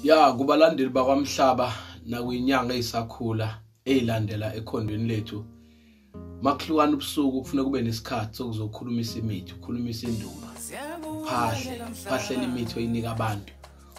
ya kubalandeli bakwamhlaba nakwinyanga eyisakhula eyilandela ekhondweni lethu makuhlukana ubusuku kufuna kube nesikhathi sokuzokhulumisa imithi ukhulumisa indumba phahle phahlela imithi oyinika abantu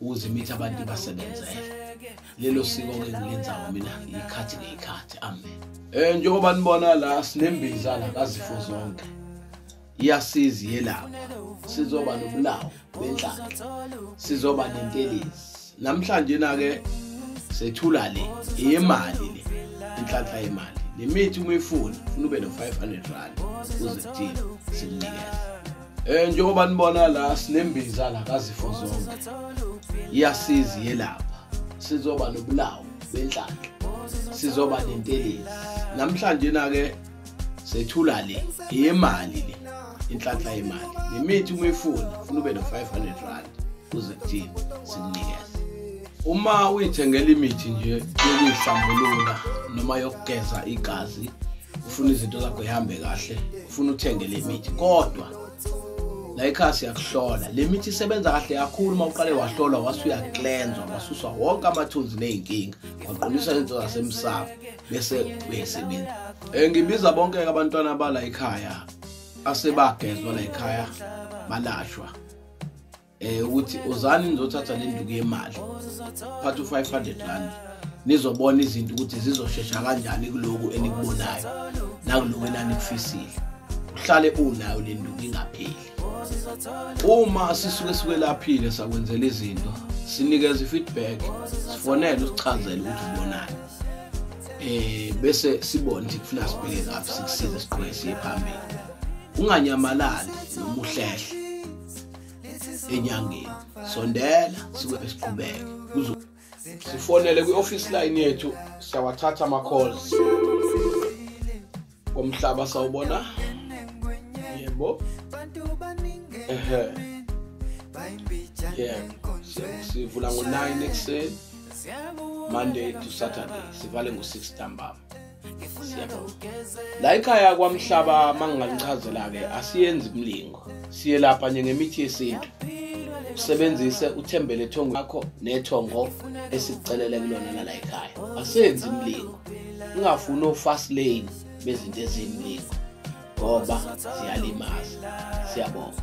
ukuze imithi abantu ibasebenzele lelo siko ke ngilenzayo mina ngiyikhathi ngeyikhathi amen um njengoba nibona la sinembiza la kazifo zonke iyasiza iyelapha sizoba nobulawo benhlaka sizoba nentelezi namhlanje na-ke sethula le eyemali le inhlanhla yemali nemithi uma ifuna funa ube no-500 rand uzithile simnikeza um eh, njengoba nibona la sinembiza la kazifo zonke iyasiza iyelapha sizoba nobulawo benhlanhla sizoba nentelezi namhlanje na-ke sethula le yemali le inhlanhla yemali nemithi uma ifuna funa ube no-500 rand kuze kuthini sikunikeze uma uyithengela imithi nje yokuyihlambulula noma yokugeza igazi ufuna izinto zakho zihambe kahle ufuna uthenge le mithi kodwa la ekhaya siyakuhlola le mithi isebenza kahle kakhulu uma uqale wahlolwa wase uyaklenzwa wasuswa wonke amathunzi ney'nkinga waqinisa izinto zasemsamo bese uyesebenza um eh, ngibiza bonke-ke abantwana bala ekhaya asebagezwa la ekhaya balashwa eh ukuthi uzani nizothatha le nduku yemali phatha u-500 rand nizobona izinto ukuthi zizoshesha kanjani kuloku enikubonayo nakuloku enanikufisile uhlale unayo le nduku ingapheli uma sisuke sikwelaphile sakwenzela izinto sinikeza i-feedback sifonele usichazele ukuthi ubonani eh bese sibone ukuthi kufuna sibheke ngaphi sikusize siqhubeke siye phambili unganyamalali noma uhlehle enyangeni sondela sibe siqhubeke kuzo sifonele kwi-office line yethu siyawathatha ama-calls komhlaba sawubona yebo ehe yebo sivula ngo-9 ekuseni monday to saturday sivale ngo-6 ntambama la ikhaya kwamhlaba manginganichazela-ke asiyenzi mlingo siye lapha nje ngemithi yesintu usebenzise uthembele ethongo lakho nethongo esikucelele kulona lala ekhaya asenzi mlingo ungafuni o-fast lane bezinto ezimningi ngoba ziyalimaza siyabonga